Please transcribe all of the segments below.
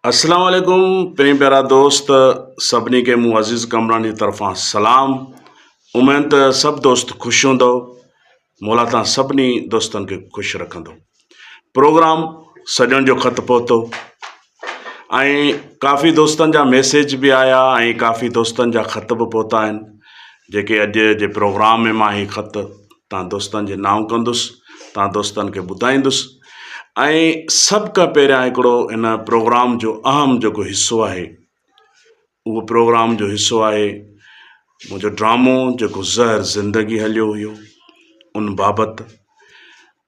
السلام عليڪم پرين پيارا دوست سڀني کي مون عزيز ڪامران جي طرفان سلام اميد ته سڀ دوست خوش هوندو مولا تان سڀني دوستن کي خوش رکندو پروگرام سڄڻ جو خط پهتو ۽ ڪافي دوستن جا ميسيج به آيا ۽ ڪافي دوستن جا خط به پهتا آهن جيڪي اڄ جي پروگرام ۾ مان هي خط توهان دوستن جي نانء ڪندس توهان دوستن کي ٻڌائيندس ۽ سڀ کان پهريان هڪڙو ان پروگرام جو اهم جيڪو حصو آهي اهو پروگرام جو حصو آهي منهنجو ڊرامو جيڪو زهر زندگي هليو هيو ان بابت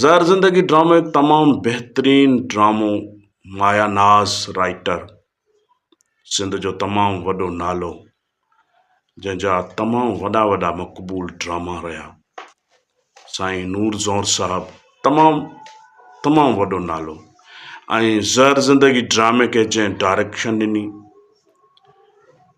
زهر زندگي ڊرامو هڪ تمام بهترين ڊرامو مايا ناز رائٽر سنڌ جو تمام وڏو نالو جنهن جا تمام وڏا وڏا مقبول ڊراما رهيا سائين نور زور صاحب تمام تمام وڏو نالو ۽ زهر زندگي ڊرامي کي جنهن ڊائريڪشن ڏني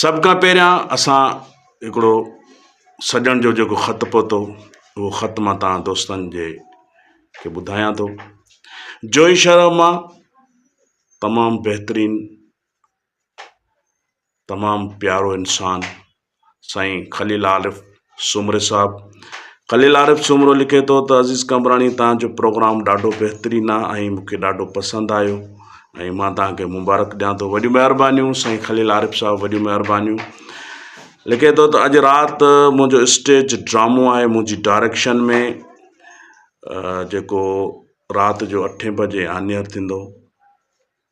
سڀ کان پهريان اسان هڪڙو سڄڻ جو جيڪو خط پهتو اهو خط مان تان دوستن جي کي ٻڌايان ٿو جوئي شرح مان تمام بهترين تمام پيارو انسان سائين خليل عارف سومري صاحب، خليل عارف سومرو لکي ٿو ته عزيز قمبراڻي توهان جو پروگرام ڏاڍو بهترين آ ۽ مون کي ڏاڍو پسند آيو ۽ مان توهان کي مبارڪ ڏيان ٿو وڏيون مهربانيون سائين خليل عارف صاحب وڏيون مهربانيون لکي ٿو ته اڄ رات منهنجو اسٽيج ڊرامو آهي منهنجي ڊائريڪشن ۾ جيڪو رات جو اٺين بجي آنيئر ٿيندو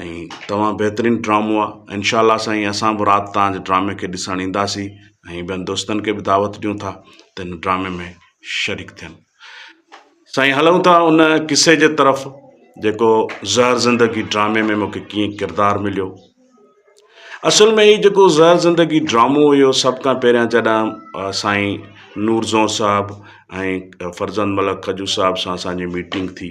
۽ تمام بهترين ڊرامو آ انشاء الله سائين اسان به رات تان ڊرامي کي ڏسڻ اينداسي ۽ ٻين دوستن کي به دعوت ڏيون ٿا ته ان ڊرامي ۾ شريڪ ٿين سائين هلون ٿا ان قصي جي طرف جيڪو زهر زندگي ڊرامي ۾ مونکي ڪيئن ڪردار مليو اصل ۾ هي جيڪو زهر زندگي ڊرامو هيو سڀ کان پهريان جڏهن سائين نور زون صاحب ۽ فرزند ملڪ کجو صاحب سان اسان جي ميٽنگ ٿي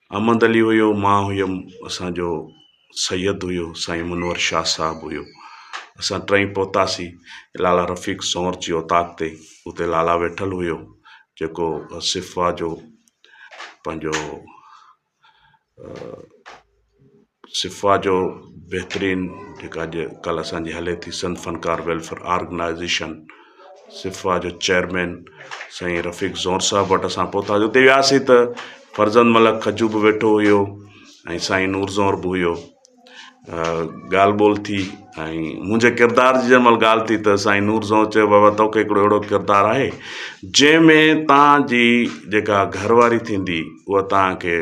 احمد علي هيو، مان هيم، اسان جو سيد هيو، سائين منور شاهه صاحب هيو. اسان ٽئي پهتاسين لالا رفيق سونر جي اوطاق تي، اتي لالا ويٺل هيو، جيڪو صفويٰ جو پنهنجو سفا جو بهترين جيڪا اڄ ڪلهه اسان جي هلي ٿي سنڌ فنڪار ويلفيئر آرگنائزيشن سفا جو چيئرمين سائين رفيق زور صاحب وٽ اسان پهتاسي اتي وياسي ته فرزند ملڪ کجو به ويٺو هيو ۽ سائين نور زور به هيو ڳالهه ٻولهه ٿي ۽ منهنجي ڪردار جي جنهن مهل ڳالهه ٿي ته سائين نور زئو چيو بابا تو کي هڪڙو اهڙو ڪردار آهي جنهن ۾ توهان جي جيڪا گهر واري ٿيندي اها توهان کي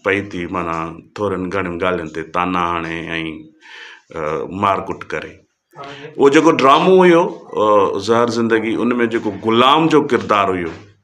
پئي ٿي معنيٰ ٿورين گهڻين ڳالهين تي طعنا هڻي ۽ مار ڪٽ ڪري اهو جيڪو ڊرامو هيو زهر زندگي ان ۾ جيڪو غلام جو ڪردار هيو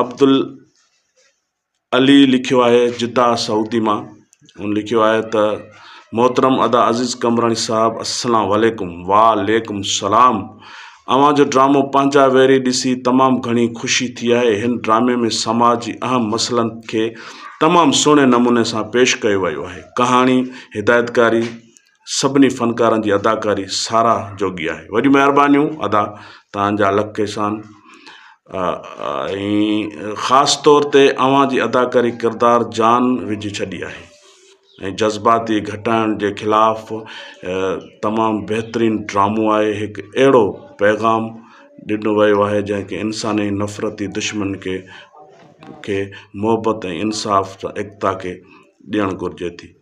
عبدالعلي لکيو آهي جده سعودي مان هن لکيو آهي ته محترم ادا عزيز قمبراڻي صاحب السلام عليڪم وعليڪم السلام اوهان جو ڊرامو پنهنجا ويري ڏسي تمام گهڻي خوشي ٿي آهي هن ڊرامي ۾ سماج جي اهم مسئلن کي تمام سهڻي نموني سان پيش ڪيو ويو آهي ڪهاڻي هدايتڪاري سڀني فنڪارن جي اداڪاري ساراھ جوڳي آھي وڏيون مھربانيون ادا توھان جا لک احسان ۽ خاص طور تي اوھان جي اداڪاري ڪردار جان وجھي ڇڏي آھي ۽ جذباتي گھٽائڻ جي خلاف تمام بھترين ڊرامو آھي ھڪ اھڙو پيغام ڏنو ويو آھي جنھن کي انساني نفرتي دشمن کي کي محبت ۽ انصاف سان ايڪتا کي ڏيڻ گھرجي ٿي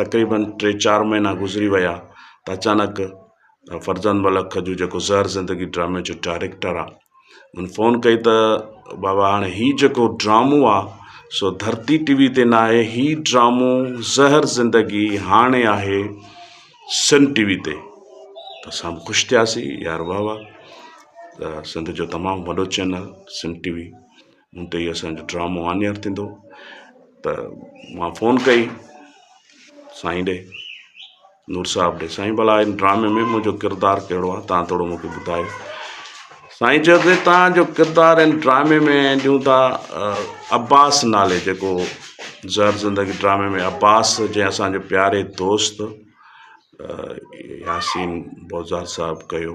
تقريبن ٽي چار مهينا گذري ويا ته اچانڪ فرزند ملڪ کجو جيڪو زهر زندگي ڊرامي جو ڊائريڪٽر آ ان فون ڪئي ته بابا هاڻي هي جيڪو ڊرامو آ سو ڌرتي ٽي وي تي نه آهي هي ڊرامو زهر زندگي هاڻي آهي سن ٽي وي تي ته اسان به خوش ٿياسي يار واهه واهه سنڌ جو تمام وڏو چينل سن ٽي وي مون تي اسان جو ڊرامو آن ايئر ٿيندو ته مان فون ڪئي سائين ڏي نور صاحب ڏي سائين بلا ان ڊرامي ۾ منهنجو ڪردار ڪهڙو آ تان ٿورو مونکي ٻڌايو سائين چيو ته تان جو ڪردار ان ڊرامي ۾ ڏيون ٿا عباس نالي جيڪو زهر زندگي ڊرامي ۾ عباس جنهن اسان جو پياري دوست ياسين بوزار صاحب ڪيو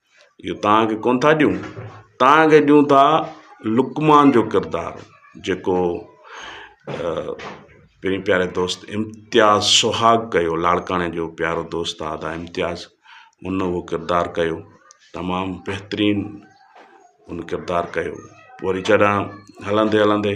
اهو توهان کي ڪونه ٿا ڏيون، توهان کي ڏيون ٿا لقمان جو ڪردار جيڪو پنهنجي پياري دوست امتياز سهاڳ ڪيو لاڙڪاڻي جو پيارو دوست آ ادا امتياز ان اهو ڪردار ڪيو تمام بهترين ان ڪردار ڪيو وري جڏهن هلندي هلندي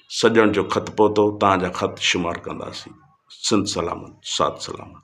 سڄڻ جو خط پهتو تهان جا خط شمار ڪنداسين سنڌ سلامت ساٿ سلامت.